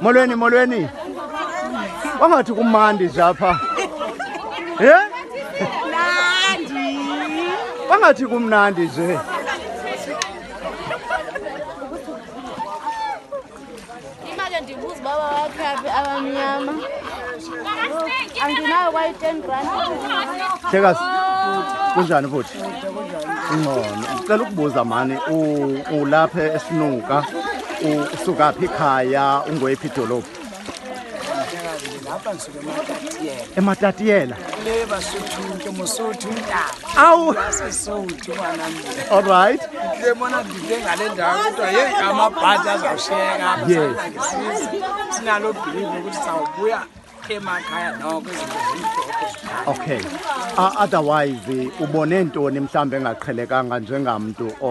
molweni molweni wangathi kumandi nje apha ye wangathi kumnandi nje imake ndibuza uba bawakhaphi abamnyama andinayo kwayi-ten rand Chekas. Kunjani futhi? Ingcono. Ngicela ukubuza mani u- ulapha esinuka usuka phi khaya ungoyiphi idolophu? ematatiela le basotho ke mosotho awu sesotho banamile all right le mona dide ngale ndawo kodwa ye amabhadi azawushiyeka apha Yes. sisizwe sinalo bhilivu ukuthi sawubuya emakhaya noko izinto zimhlophe zikhaya okay uh, otherwise ubone ntoni mhlawumbi engaqhelekanga njengamntu o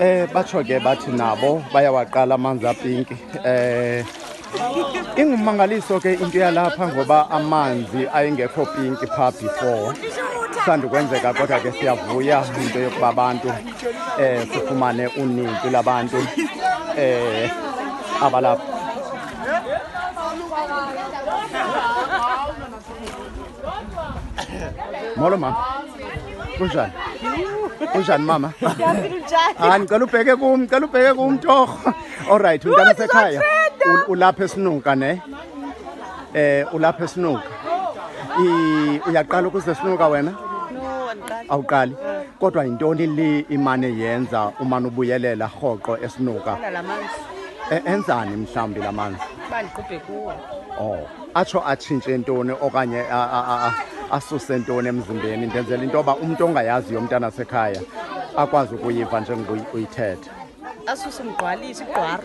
Eh batsho ke bathi nabo bayawaqala amanzi apinki eh ingummangaliso ke into yalapha ngoba amanzi ayengekho pinki phaa before sandukwenzeka kodwa ke siyavuya into yokuba abantu um eh, sifumane uninzi labantu um eh, abalapha molo mama kunjani kunjani mama hayi ndicela ubheke kum ndicela ubheke kum torho Alright, mntana sekhaya. u- Ulapha esinuka ne? Eh ulapha esinuka. I uyaqala ukuze sinuka wena? No, andiqali. Awuqali. Kodwa yintoni le imane yenza umane ubuyelela rhoqo esinuka? Ndala la manzi. E- Enzani mhlawumbi lamanzi? Uba ndiqubhe kuwo. Oh, atsho atshintshe ntoni okanye a- a- a- a- asuse ntoni emzimbeni ndenzela into yoba umntu ongayaziyo umntana sekhaya akwazi ukuyiva njengoba uyi- uyithetha. asuse mgqwalisi igqwaro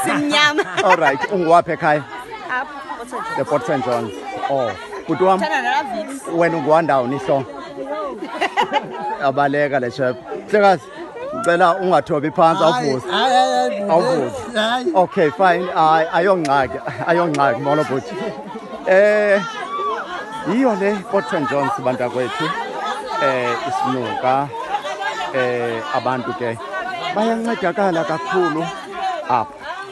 simnyama all right unguwaphi ekhaya apha otshenjwa the port st john oh bhuti wam thanda nala vix wena unguwandawuni ihlongo abaleka le shep hlekazi ndicela ungathobi phantsi awuvuze awuvuze okay fine Ay- ayongxaki ayongxaki molo bhuti Eh yiyo le Potron Jones bantakwethu eh isinuka eh abantu ke bayancedakala kakhulu apha